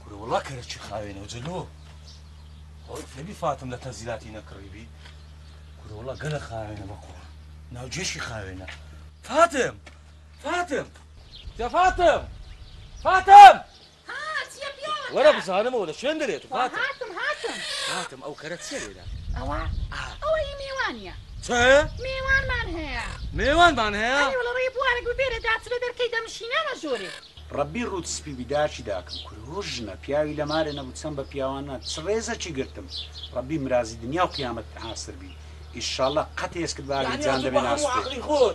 کورە وەڵا کەرەچی خاوێنە و جلۆ خۆی فێبی فاتم لە تەزیلاتی نەکڕیبی کورە وەڵا گەلە خاوێنە بەقوڕ ناوجێشی خاوێنە فاتم فاتم جا فاتم فاتم وەرە بزانمەوە لە شوێن دەرێت فاتم فاتم ئەو کەرە چێ لێدا ئەوە ئەوە هی میوانە چایە؟ مێوانمان هەیە. مێوانمان هەیە؟ ئەرێ وەڵا ڕێ بوارە گوو بێرە داچنە دەرکەی دەمشینە ئەمە ژۆرێ. ڕەبی ڕووت سپی بی داکی داکم کورە هۆ ژنە پیاوی لە مارێ نەبوو چەند بە پیاوانە چ ڕێزەکی گرتم ڕەبی مرازی دنیاو قیامەتت ئاسر بی ئیشاڵا قەت ئێسکت بە ئاگری جاندەبێ ناسوتێ.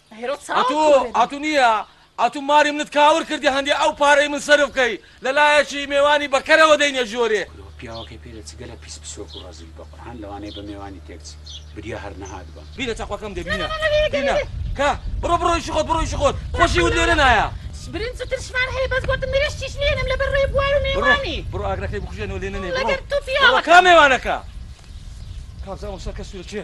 ئەتوو ئەتوو نییە ئەتوو ماری منت کاول کردی هەندێ ئەو پارەی من سەرف کەی لە لایەکی مێوانی بە کەرەوە دەینە ژۆرێ کورە پیاوەکەی پێ دەچی گەلە پیس پسۆک و ڕەزیل بە قورعان لەوانەیە بە مێوانی تێک چی بریا هەر نەهات بە. بینە تەقوەکەم دێ بینە بینە کە بڕۆ بڕۆ ئیشی خۆت بڕۆ ئیشی خۆت خۆشی وت لێرە نایە. برنج و ترشمان هەیە بەس گۆتم لێرە شتیش نێنم لە بەر ڕێ بوار و مێوانی. بڕۆ بڕۆ ئاگرەکەی بکوژێنەوە لێ نەنێ بڕۆ لەگەر تو پیاوەکەم. بڕۆ کا مێوانەکە کا بزانم ئەو سەرکە سورە کێ.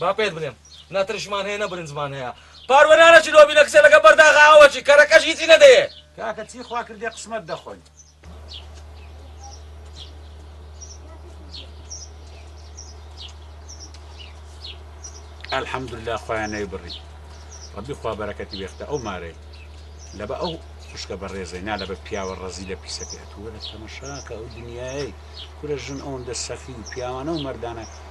با پێت بلێم نە ترشمان هەیە نە برنجمان هەیە پاروەنانە چی لۆبی نەکسێ لەگە بەرداغا ئەوە چی کەرەکەش هیچی نەدەیێ کاکە چی خوا کردێ قسمەت دەخۆین الحمد لله خۆیان نەی بڕی ڕبی خوا بەرەکەتی وێختە ئەو مارەی لە بە ئەو خوشکە بە ڕێزەی نا لە بە پیاوە ڕەزی لە پیسەکەێت وەرە تەمەشاکە ئەو دنیای کورە ژن ئەوەندە سەخی و پیاوانە و مردانە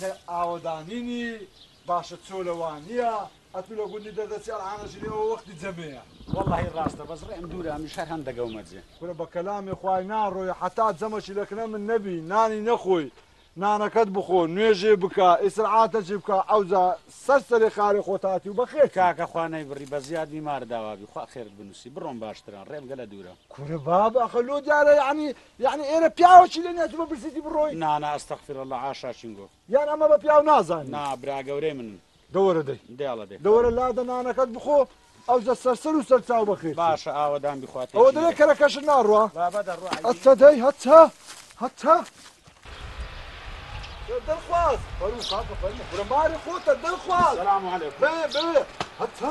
نە ئاوەدانی نی باشە چۆلە وانیە ئەتو لە گوندی دەردەچی ئەلعانە ژنی ئەوە وەختی جەمێە. وەڵاهی ڕاستە بەس ڕێم دوورە ئەمن شەر هەم دەگەو مەرجێ. کورە بە کەلامی خوای ناڕۆی حەتا جەمەشی لە کنە من نەبی نانی نەخۆی نانەکەت بخۆ نوێژێ بکە ئیسرعاتەکی بکە ئەوجا سەر سەری خارێ خۆت هاتی و بەخێرتی. کاکە خوا نەیبڕی بە زیاد بیمار داوابی خوا خێرت بنوسی بڕۆم باشترە ڕێم گەلە دوورە. کورە بابە ئەخە لۆ دیارە یەعنی یەعنی ئێرە پیاوەکی لێ نیە تو بەبرسیتی بڕۆی. نا نا استغفر اللە عاشا چینگۆ. یان ئەمە بە پیاو نازانی. نا برا گەورەی منن. دەوەرە دەی. دێڵە دەی. دەوەرە لادە نانەکەت بخۆ ئەوجە سەرسەر و سەرچاو بەخێرچی. باشە ئاوەدان بیخوا تێکی نەدەم. ئەوە دەلێ کەرەکەشت ناڕوا. بابە دەڕوا ئەی. هەتە دەی هەتە هەتە. دڵخواز. فەرموو کاکە فەرموو. کورە ماری خۆتە دڵخواز. سلام علیکم. بەوێ بەوێ هەتە.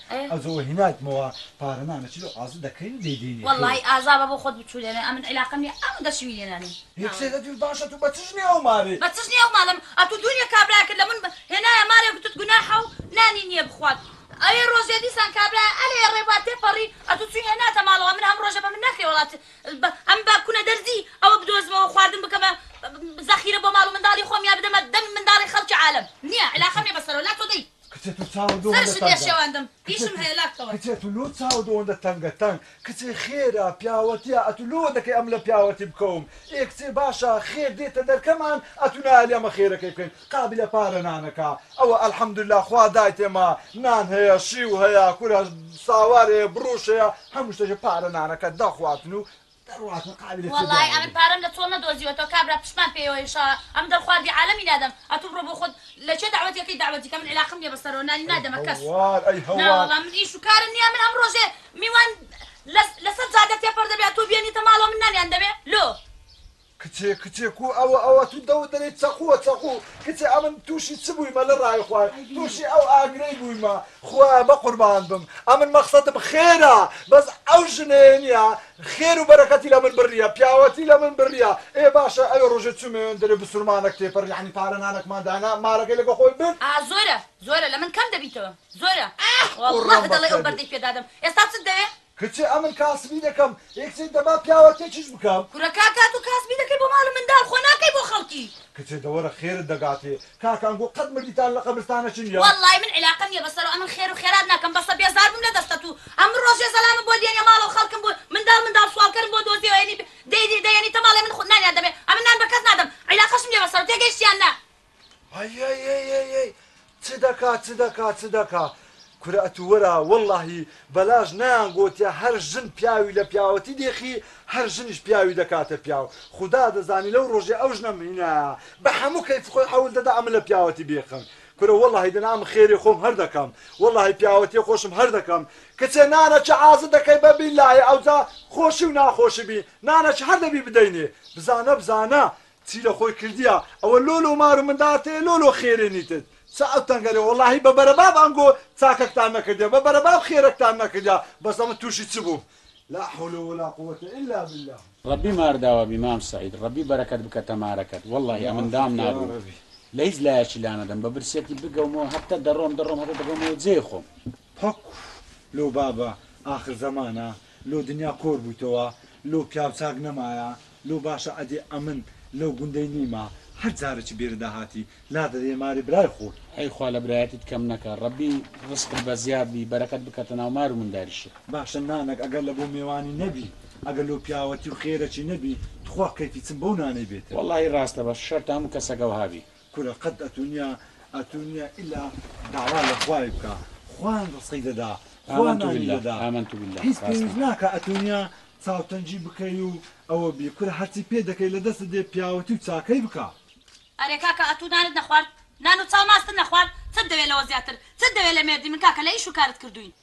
ئەی ئەزۆ وە هینات مەوە پارە نامە چ لۆ ئازە دەکەین و دەیدەینێ خێر. وەڵایی ئازا بە بۆ خۆت بچوو لێنێ ئەمن عیلاقەم نیە ئەمن دەچوی لێنانێ. هی قسەی لەدوی باشە تو بە چ ژنێ ئەو مارێ. بە چ ژنێ ئەو مالم ئەتو دونێ کابرایەکت لە بن هێنایە مارێ گوتت گوناحە و نانی نیە بخوات ئەوێ ڕۆژێ دیسان کابرایە ئەلێ ئەڕێ با تێپەڕی ئەتو چوی هێناتە مالەوە ئەمن هەم ڕۆژە بە من نەکرێ وەڵات بە ئەم با کونە دەردی ئەوە بدۆزمەوە خواردن بکەمە زەخیرە بۆ مال و منداڵی خۆم یا بدەمە دەم منداڵی خەڵکی عالەم نیە عیلاقەم نیە بە سەرەوە لا تۆ دەی کچێ تو چاوت لۆ هەندە تەنگە. سەرشم لێ شێواندم ئیشم هەیە لاق کەوە. کچێ تو لۆ چاوت ئەوەندە تەنگە تەنگ کچێ خێرە پیاوەتیە ئەتو لۆ دەکەی ئەم لە پیاوەتی بکەوم ئێ کچێ باشە خێر دێتە دەرکەمان ئەتو نایەلی ئەمە خێرەکەی بکەین قابلە پارە نانەکە ئەوە الحمدللە خوا دایت ئێمە نان هەیە شیو هەیە کورە ساوار هەیە بڕوش هەیە هەموو شتێک پارە نانەکە دەخواتن و وەڵای ئەمن پارەم لە چۆڵ نەدۆزیوەتەوە کابرا پشتمان پێیەوە ان شاء ئەمن دەم خواردی عالەمی نادەم ئەتوو بڕۆ بۆ خۆت لە کێ دەعوەت یەکەی دەعوەتی کە من علاقەم نیە بە سەرەوە نانی نادەمە کەس نا وەڵا من ئیش و کارم نیە من هەموو ڕۆژێ میوان لەسەر جادە تێپەر دەبێ ئەتوو بێنیتە ماڵەوە من نانیان دەمێ لۆ کچێ کچێ کو ئەوە ئەوە تو دەوت دەلێی چەقوە چەقو کچێ ئەمن توشی چ بویمە لە رای خوا توشی ئەو ئاگرەی بویمە خوایە بە قوربانت بم ئەمن مەخسەدم خێرە بەس ئەو ژنەیە نیە خێرو بەرەکەتی لە من بریە پیاوەتی لە من بریە ئێ باشە ئەوێ رۆژێ چومێن دەلێ بسورمانەک تێپەر یەعنی پارە نانەکمان دانا مارەکەی لەگە خۆی برد. ئا زۆرە زۆرە لە من کەم دەبیتەوە زۆرە واللە دەڵێی ئەو بەردەی پێ دادەم ئێستا چت دەوێ کچێ ئەمن کاسبی دەکەم ئێ کچێ دەبا پیاوەتێکیش بکەم. کورە کاک تاتۆ کاسبی دەکەی بۆ ماڵ و منداڵ خۆ ناکەی بۆ خەڵکی. کچێ دە وەرە خێرت دەگاتێ. کاک ئەنگۆ قەت مردیتان لە قەبرستانەچ نیە. وەڵڵایی من عیلاقەم نیە بەسەرو ئەمن خێرو خێرات ناکەم بەسە بێزار بووم لە دەستت و ئەمن ڕۆژێ زەلامم بۆ دێنێ ماڵەو خەڵکم بۆ منداڵ منداڵ سواڵکەرم بۆ دۆزێ ئەیەنی دەیەنیتە ماڵێ من خۆ نانیان دەمێ ئەمن نان بە کەس نادەم عیلاقەشم نیە بەسەرو تێگەیشتی یان نا هەیەیەیەیەی چ دەکا چ دەکا چ دەکا کورە ئەتوو وەرە وەڵاهی بەلاش نەیان گۆتیە هەر ژن پیاوی لە پیاوەتی دێخی هەر ژنیش پیاوی دەکاتە پیاو خودا دەزانی لەو ڕۆژەی ئەو ژنەم هینایە بە حەموو کەیف خۆی حەول دەدا ئەمن لە پیاوەتی بێخم کورە وەڵاهی دەنا ئەمن خێرێ خۆم هەر دەکەم وەڵاهی پیاوەتیە خۆشم هەر دەکەم کچێ نانەکی عازت دەکەی بە بیلایە ئەوجا خۆشی و ناخۆشی بی نانەکی هەر دەبی بدەینێ بزانە بزانە چی لە خۆی کردیە ئەوە لۆ لۆ مار و مندار تێ لۆ لۆ خێرێ نیتت چە ئەو تەنگەرە وەڵاهی بە بەرەباب ئەنگۆ چاکەکتان نەکردیە بە بەرەباب خێرەکتان نەکردیە بەس ئەمن توشی چ بووم لا حول ولا قووەتە الا باللە. ڕەبی مار داوەبی مام سەعید ڕەبی بەرەکەت بکەتە مارەکەت وەللەهی ئەمن دام نابوو لە هیچ لایەکی لانەدەم بە برسیەتی بگەومەوە هەتە دەڕۆم دەڕۆم هەتە دەگەومەوە جێی خۆم. پەک لۆ بابە ئاخر زەمانە لۆ دنیا کۆر بویتەوە لۆ پیاو چاک نەمایە لۆ باشە ئەدێ ئەمن لەو گوندەی نیمە هەر جارەکی بێردا هاتی لادەدە یەماری برای خۆت. ئەی خوا لە برایەتیت کەم نەکا ڕەبی ڕسقت بە زیاد بی بەرەکەت بکەتە ناو مار و منداریشت. باشە نانەک ئەگەر لە بۆ مێوانی نەبی ئەگەر لۆ پیاوەتی و خێرەکی نەبی توخوا کەیفی چم بەو نانەی بێتە. وەڵاهی ڕاستە بەس شەرتە هەموو کەسەک ئەوها بی. کورە قەت ئەتونیا ئەتونیا ئیلا داوا لە خوای بکە خوان ڕسقی دەدا خوا نانی دەدا هیچ پێویست ناکە ئەتونیا چاوتەنگی بکەی و ئەوە بی کورە هەرچی پێ دەکەی لە دەستت دێ پیاوەتی و چاکەی بکە. ئەرێ کاکە ئەتوو نانت نەخوارد نان و چاو ماستت نەخوارد چت دەوێ لەوە زیاتر چت دەوێ لە مێردی من کاکە لە ئیش و کارت کردووین.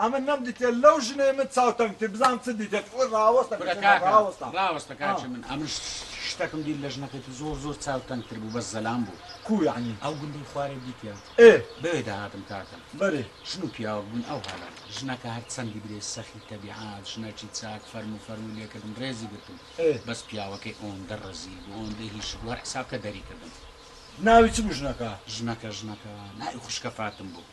ئەمن نەم دیتێ لەو ژنەی من چاو تەنگ تر بزانم چ دیتێت ئوی ڕاوەستە کورە کچێنە کاکە ڕاوەستە ڕاوەستە آه. کاکژ من ئەمن شتەکم دیت لە ژنەکەی تر زۆر زۆر چاو تەنگ تر بوو بەس زەلام بوو کو یەعنی ئەو گوندەی خوارێ دیتیە ئێ بەوێ دەهاتم کاکە بەرێ ژن و پیاوەک بوون ئەو هەلە ژنەکە هەر چەندی برێ سەخی تەبیعات ژنەکی چاک فەرموو فەرمووی لێ کردم ڕێزی گرتم ئێ بەس پیاوەکەی ئۆندە ڕەزیل بوو ئۆندە هیچ بوو هەر حساب کە دەری کردم ناوی چ بوو ژنەکە؟ ژنەکە ژنەکە ناوی خوشکە فاتم بوو.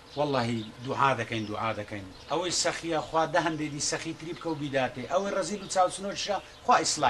وەڵاهی دوعا دەکەین دوعا دەکەین ئەوەی سەخیە خوا دە هەندەی دی سەخی تری بکە و بیداتێ ئەوەی ڕەزیل و چاوچنۆکیشە خوا ئیسلاحی